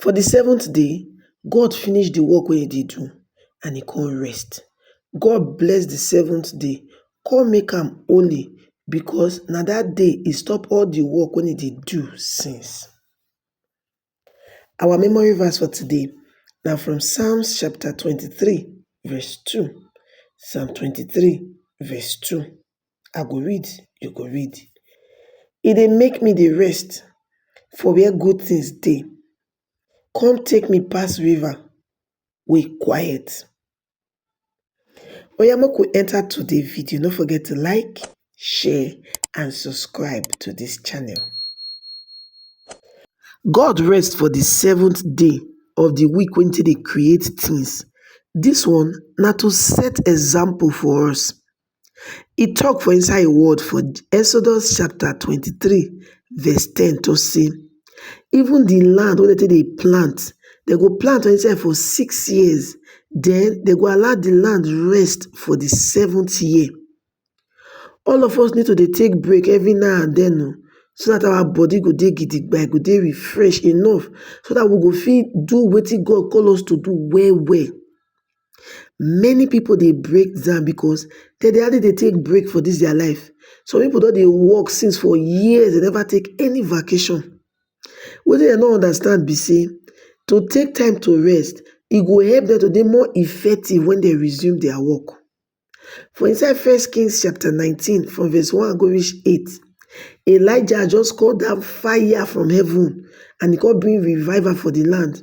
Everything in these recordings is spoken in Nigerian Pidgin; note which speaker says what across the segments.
Speaker 1: For di seventh day, God finish di work wey e dey do and e come rest. God bless di seventh day come make am holy because na dat day e stop all di work wey e dey do since. Our memory verse for today na from Psalm chapter twenty three verse two, Psalm twenty three verse two. I go read, you go read. E dey make me dey rest for where good things dey, come take me pass river wey quiet. Oya make we enter today video, no forget to like, share and subscribe to this channel. God rest for the seventh day of the week wey take dey create things. This one na to set example for us. E tok for inside im word for Exodus chapter twenty three verse ten to say, even the land wey dem take dey plant, dem go plant inside for six years, then dem go allow the land rest for the seventh year. All of us need to dey take break every now and then o, oh, so that our body go dey gidigba, e go dey refresh enough, so that we go fit do wetin God call us to do well well. many people dey break down because dem dey hardly dey take break for this their life some people don dey work since for years dem never take any vacation wetin dem no understand be say to take time to rest e go help dem to dey more effective when dem resume their work For inside First Kings chapter 19, from verse 1 go reach 8, Elijah just call down fire from heaven and he come bring revival for the land.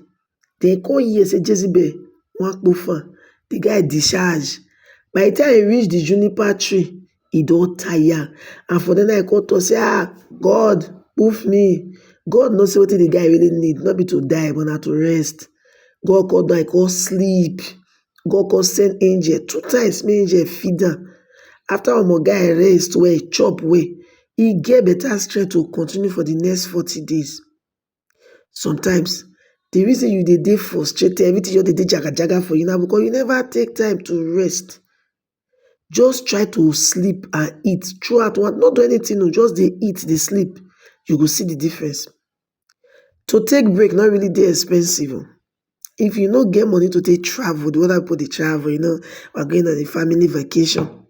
Speaker 1: Then come hear say Jezebel wan kpofa, the guy discharge. By the time he reach the juniper tree, he don tire. And for then I call to say, ah, God, poof me. God knows what the guy really need, not be to die, but not to rest. God called down, I call sleep. God come send angel two times make angel feed am. After omo guy rest well, chop well, e get better strength to continue for the next forty days. Sometimes, the reason you dey dey frustrated, everything just dey dey jagajaga for you na because you never take time to rest. Just try to sleep and eat throughout one no do anything o, just dey eat dey sleep, you go see the difference. to take break no really dey expensive oh, if you no get money to take travel the way other people dey travel, you know, we're going on a family vacation,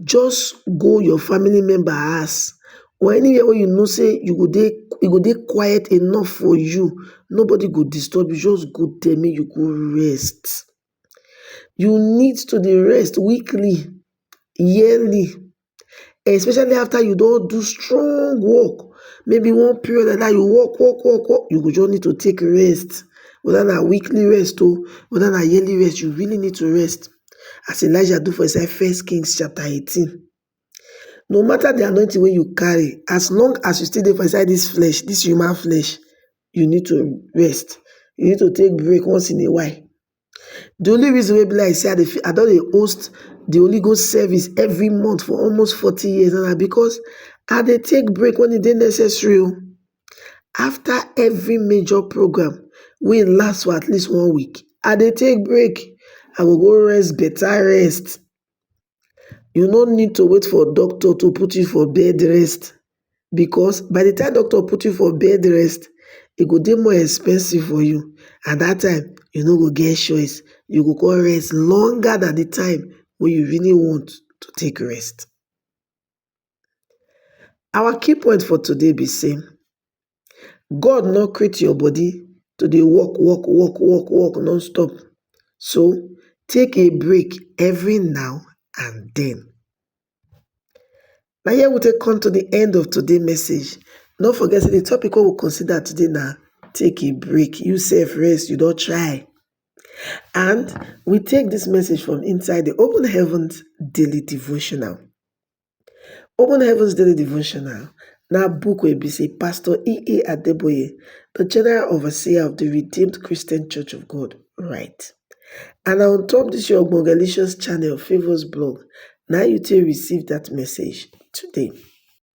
Speaker 1: just go your family member house or anywhere wey you know sey you go dey, e go dey quiet enough for you, nobody go disturb you, just go there make you go rest. you need to dey rest weekly yearly especially after you don do strong work maybe one period like dat you work work work work you go just need to take rest whether na weekly rest oh whether na yearly rest you really need to rest as Elijah do for inside first kings chapter eighteen no matter the anointing wey you carry as long as you still dey for inside this flesh this human flesh you need to rest you need to take break once in a while the only reason wey be like say i dey feel i don dey host the holy ghost service every month for almost forty years now na because i dey take break when e dey necessary o after every major program wey last for at least one week i dey take break i go go rest better rest you no need to wait for doctor to put you for bed rest because by the time doctor put you for bed rest e go dey more expensive for you at that time you no go get choice you go come rest longer than the time wey you really want to take rest Our key point for today be sey God no create your body to dey work work work work work non stop so take a break every now and den. Na here we take come to de end of today message no forget sey de topic wey we consider today na take a break you self rest you don try and we take dis message from inside de open heaven daily devotional. Open Heavens Daily Devotional na book wey be sey Pastor E.A. Adeboye, the General Overseer of the Redeemed Christian Church of God write. And na on top this your ogbonge Galatians channel, Favours blog, na you take receive that message today.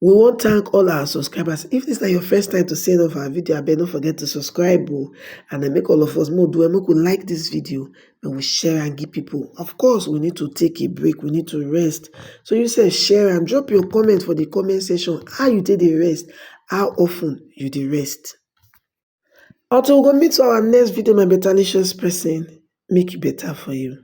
Speaker 1: We wan thank all our subscribers. If this na your first time to see any of our video, abeg no forget to subscribe o. And then make all of us make we do well, make we like this video, we will share and give people of course we need to take a break we need to rest so you say share and drop your comment for the comment section how you take the rest how often you the rest until we go meet our next video my better licious person make it better for you